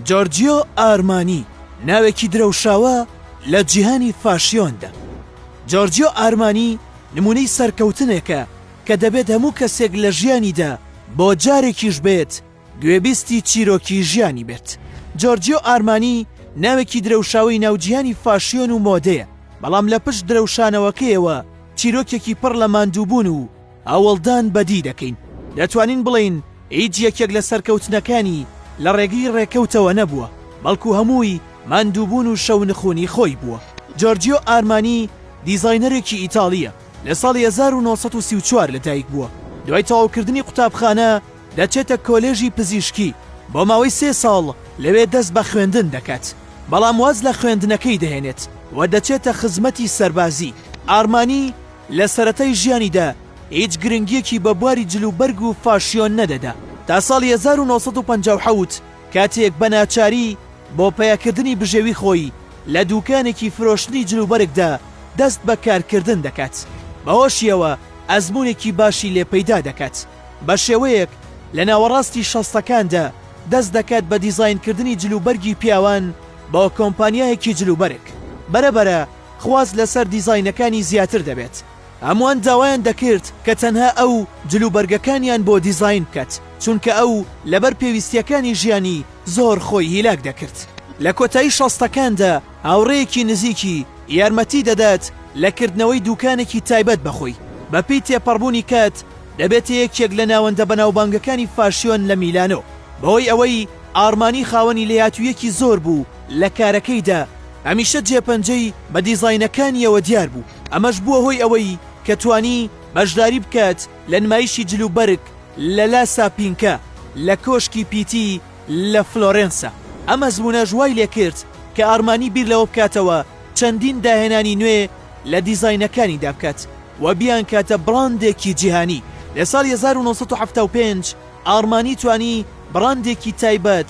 جۆرجیۆ ئارمانی ناوێکی درەوشاوە لە جیهانی فاشیۆندا. جۆرجیۆ ئارمانی نموونەی سەرکەوتنێکە کە دەبێت هەموو کەسێک لە ژیانیدا بۆ جارێکیش بێت گوێبیستی چیرۆکی ژیانی بێت. جۆرجیۆ ئارمانی ناوێکی درەوشاوەی ناو جیهانی فاشیۆن و مۆدەیە، بەڵام لە پشت درەوشانەوەکەیەوە چیرۆکێکی پڕ لە ماندووبوون و هەوڵدان بەدی دەکەین، دەتوانین بڵێین هیچ یەکێک لە سەرکەوتنەکانی لە ڕێگەی ڕێکەوتەوە نەبووە، بەڵکو هەمووی ماندووبوون و شەونخوونی خۆی بووە. جۆرجیۆ ئارمانی دیزاینەرێکی ئیتاڵییە، لە ساڵی هەزار و نۆ سەد و سی و چوار لەدایکبووە، دوای تەواوکردنی قوتابخانە دەچێتە کۆلێژی پزیشکی، بۆ ماوەی سێ ساڵ لەوێ دەست بە خوێندن دەکات، بەڵام واز لە خوێندنەکەی دەهێنێت و دەچێتە خزمەتی سەربازی. ئارمانی لە سەرەتای ژیانیدا هیچ گرنگییەکی بە بواری جل و بەرگ و فاشیۆن نەدەدا، تا ساڵی هەزار و نۆ سەد و پەنجا و حەوت کاتێک بە ناچاری بۆ پەیەکردنی بژێوی خۆی لە دووکانێکی فرۆشتنی جل و بەرگدا دەست بە کارکردن دەکات، بەهۆشیەوە ئەزموونێکی باشی لێ پەیدا دەکات، بە شێوەیەک لە ناوەڕاستی شەستەکاندا دەست دەکات بە دیزاینکردنی جل و بەرگی پیاوان بۆ کۆمپانیایەکی جل و بەرگ، بەرەبەرە خواست لەسەر دیزاینەکانی زیاتر دەبێت، هەمووان داوایان دەکرد کە تەنها ئەو جلوبەرگەکانیان بۆ دیزاین بکەت، چونکە ئەو لەبەر پێویستییەکانی ژیانی زۆر خۆی هیلاک دەکرد. لە کۆتایی شەستەکاندا هاوڕێیەکی نزیکی یارمەتی دەدات لە کردنەوەی دوکانێکی تایبەت بە خۆی، بەپێی تێپەڕبوونی کات دەبێتە یەکێک لە ناوەندە بەناوبانگەکانی فاشیۆن لە میلانۆ، بەهۆی ئەوەی ئارمانی خاوەنی لێهاتووییەکی زۆر بوو، لە کارەکەیدا هەمیشە جێپەنجەی بە دیزاینەکانییەوە دیار بوو، ئەمەش بووە هۆی ئەوەی کە توانی بەشداری بکات لە نمایشی جلوبەرگ لە لا ساپینکا لە کۆشکی پیتی لە فلۆرێنسا. ئەم ئەزموونەش وای لێ کرد کە ئارمانی بیر لەوە بکاتەوە چەندین داهێنانی نوێ لە دیزاینەکانیدا بکات و بیانکاتە بڕاندێکی جیهانی. لە ساڵی هەزار و نۆ سەد و حەفتا و پێنج ئارمانی توانی بڕاندێکی تایبەت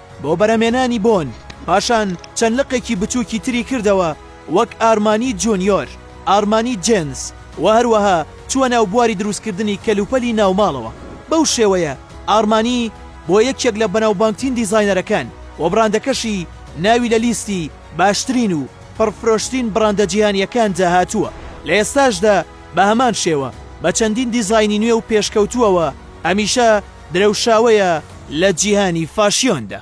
بۆ بەرەمێنانی بۆن، پاشان چەند لقێکی بچووکی تری کردەوە وەک ئارمانی جونیۆر، ئارمانی جێنز و هەروەها چووە ناو بواری دروستکردنی کەلوپەلی ناوماڵەوە، بەو شێوەیە ئارمانی بووە یەکێک لە بەناوبانگترین دیزاینەرەکان و بڕاندەکەشی ناوی لە لیستی باشترین و پڕفرۆشترین بڕاندە جیهانییەکاندا هاتووە. لە ئێستاشدا بە هەمان شێوە بە چەندین دیزاینی نوێ و پێشکەوتووەوە هەمیشە درەوشاوەیە لە جیهانی فاشیۆندا.